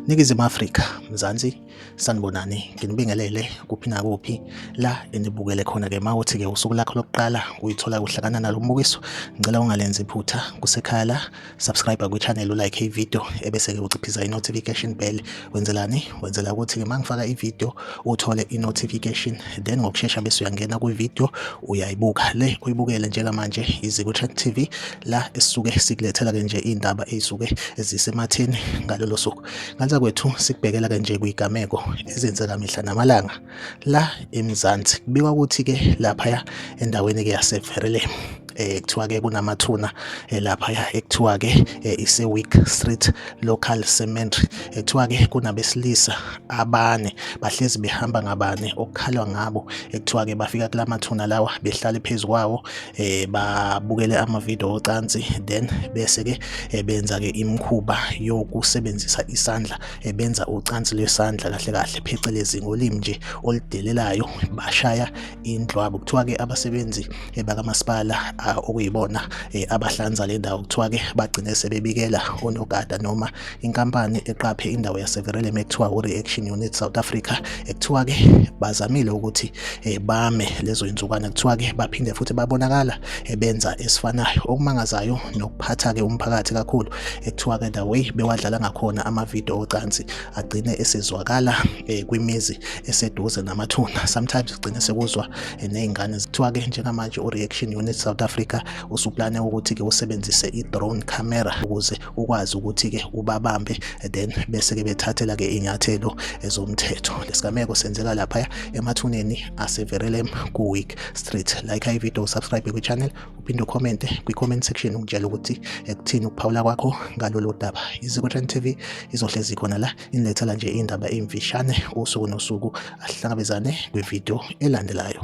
Ningizimu Afrika, Mzansi, sanibonani, nginibingelele kuphi nakuphi la enibukele khona-ke ma uthi-ke usuku lakho lokuqala uyithola kuhlakana nalo mbukiso, ngicela ungalenzi iphutha kusekhaya la. subscribe kwichannel ulike ivideo ebese-ke uciphisa i-notification bell wenzelani wenzela ukuthi-ke uma ngifaka ivideo uthole i-notification then ngokushesha bese uyangena kwivideo uyayibuka le uyibukele njengamanje izikuchat t v la esisuke sikulethela-ke nje iy'ndaba ey'suke zisematheni ngalolo suku nganza kwethu sikubhekela-ke nje kuy'gameko ezenzeka mihla namalanga la eMzansi kubikwa ukuthi ke laphaya endaweni ke yaseVerele eh kuthiwa ke kunamathuna eh, lapha ya ekuthiwa ke eh, ise Week Street Local Cemetery ekuthiwa eh, ke kunabesilisa abane bahlezi behamba ngabane okukhalwa ngabo ekuthiwa ke bafika kulamathuna lawa behlale phezukwawo eh babukele ama video ocansi then bese ke benza ke imkhuba yokusebenzisa isandla ebenza ucansi lwesandla kahle kahle phecelezi ngolimi nje oludelelayo bashaya indlwabo kuthiwa ke abasebenzi eh, bakamasipala ah, okuyibona eh, abahlanza le ndawo kuthiwa ke bagcine sebebikela onogada noma inkampani eqaphe indawo yaseverelem ekuthiwa u-reaction unit south africa ekuthiwa ke bazamile ukuthi eh, bame lezo insukwana kuthiwa ke baphinde futhi babonakala benza esifanayo okumangazayo nokuphatha ke umphakathi kakhulu ekuthiwa ke the way bewadlala ngakhona amavidiyo ocansi agcine esezwakala eh, kwimizi eseduze namathuna sometimes sigcine sekuzwa eh, nezingane zithiwa ke njengamanje ureaction unit South Africa usuplane ukuthi ke usebenzise i-drone camera ukuze ukwazi ukuthi ke ubabambe eh, then bese ke bethathela ke inyathelo ezomthetho lesigameko senzeka lapha emathuneni aseverelem ku week street like i video subscribe ku channel uphinde ukhomente kwi-comment section ungitshela ukuthi ekuthini eh, ukuphawula kwakho ngalolu daba izikwetran tv izohlezi khona la inilethela nje iy'ndaba ey'mfishane usuku nosuku ahlangabezane kwividiyo elandelayo